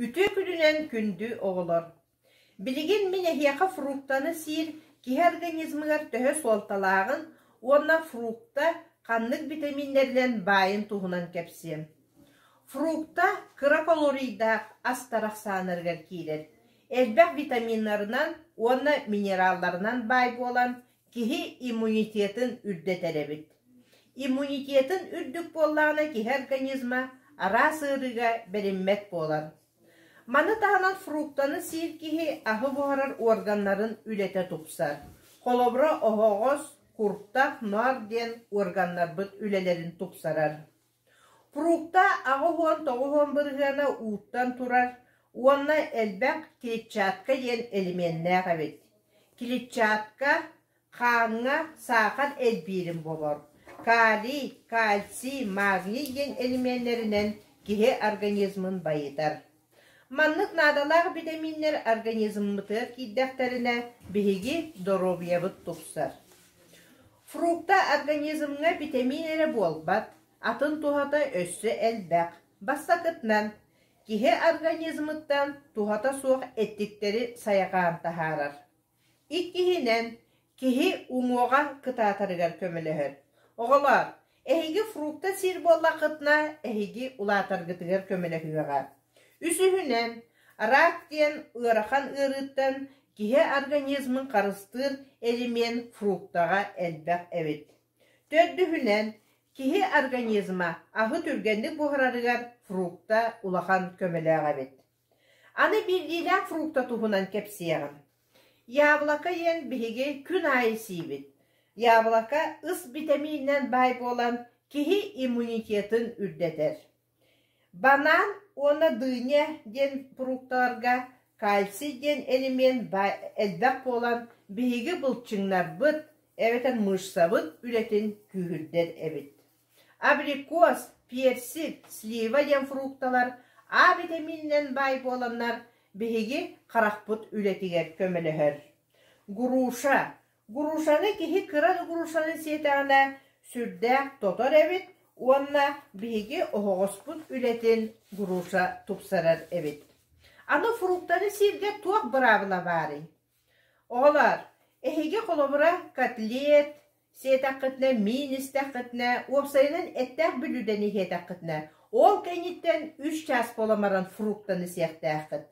Үтүө күнүнэн күндү оҕолор! Билигин мин эһиэхэ фруктаны сиир киһи организмыгар төһө суолталааҕын уонна фрукта ханнык битэмииннэринэн баайын туһунан кэпсиэм. Фрукта кыра калорийдаах астар ахсааннарыгар киирэр. Элбэх витаминнарынан уонна минералларынан баай буолан, Киһи иммунитетын үрдэтэр эбит. Иммунитетын үрдүк буоллаҕына киһи организма араас ыарыыга бэриммэт буолар. Маны таһынан фруктаны сиир киһи аһы буһарар органнарын үлэтэ тупсар. Холобура, оһоҕос, куртах, ноор диэн органнарбыт үлэлэрин тупсарар. Фрукта аҕыс уон тоҕус уон бырыһыана ууттан турар уонна элбэх клетчатка диэн элеменнээх эбит. Клетчатка хааҥҥа саахал элбиирин болор, калий, кальций, магний диэн элеменнэринэн киһи организмын байытар. Маннык наадалаах битэмииннэр организммытыгар киирдэхтэринэ, биһиги доруобуйабыт тупсар. Фрукта организмҥа битэмиин эрэ буолбат, атын туһата өссө элбэх. Бастакытынан, киһи организмыттан туһата суох эттиктэри сайҕаан таһаарар. Иккиһинэн, киһи уҥуоҕа кытаатарыгар көмөлөһөр. Оҕолоор, эһиги фрукта сиир буоллаххытына, эһиги улаатаргытыгар көмөлөһүөҕэ. Үсүһүнэн, рак диэн ыарахан ыарыыттан киһи организмын харыстыыр элемент фруктаҕа элбэх эбит. Төрдүһүнэн, киһи организма аһы түргэнник буһарарыгар фрукта улахан көмөлөөх эбит. Аны биирдиилээх фрукта туһунан кэпсиэҕим. Яблоко диэн биһиги күн аайы сиибит. Яблоко ыс битэмиининэн баай буолан, киһи иммунитетын үрдэтэр. Банан уонна дыня диэн фрукталарга кальций диэн элемент элбэх буолан, биһиги былчыҥнарбыт эбэтэр мышцабыт үлэтин күүһүрдэр эбит Абрикос, персик, слива диэн фрукталар А битэмиининэн баай буоланнар, биһиги харахпыт үлэтигэр көмөлөһөр. Груша Грушаны киһи кыра да грушаны сиэтэҕинэ сүрдээх тотор эбит уонна биһиги оһоҕоспут үлэтин груша тупсарар эбит. Аны фруктаны сииргэ туох быраабыла баарый? Оҕолоор, эһиги холобура котлет, сиэтэххитинэ миин истэххитинэ, уопсайынан эттээх бүлүүдэни иһиэтэххитинэ, ол кэнниттэн үс чаас буолан баран фруктаны сиэхтээххит.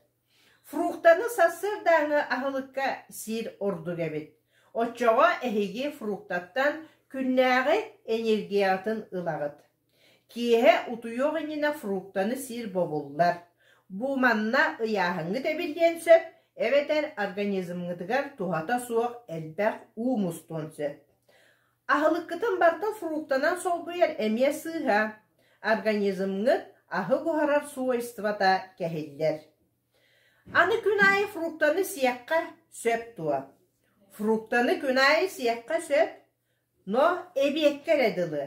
Фруктаны сарсыардааҥы аһылыкка сиир ордук эбит. Оччоҕо эһиги фруктаттан күннээҕи энергиятын ылаҕыт. Киэһэ утуйуох иннинэ фруктаны сиир бобуллар, бу манна ыйааһыҥҥыт эбит диэн сөп, эбэтэр организмҥытыгар туһата суох элбэх уу мустуон сөп. Аһылыккытын барыта фруктанан солбуйар эмиэ сыыһа. Организмҥыт аһы буһарар свойствота кэһиллэр. Аны күн аайы фруктаны сиэххэ сөп дуо? Фруктаны күн аайы сиэххэ сөп. Но эбиэккэ эрэ дылы,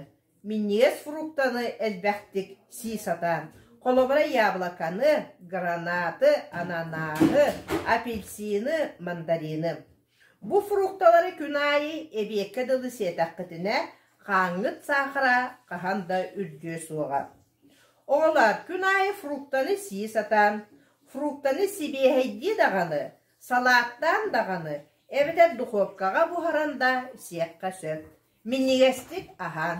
минньигэс фруктаны элбэхтик сии сатаан, холобура яблоканы, гранаты, ананааһы, апельсины, мандарины. Бу фрукталары күн аайы эбиэккэ дылы сиэтэххитинэ, хааҥҥыт саахара хаһан да үрдүө суоҕа. Оҕолоор, күн аайы фруктаны сии сатаан, фруктаны сибиэһэйдии даҕаны, Салааттаан даҕаны эбэтэр духуопкаҕа буһаран да исиэххэ сөп, минньигэстик аһаан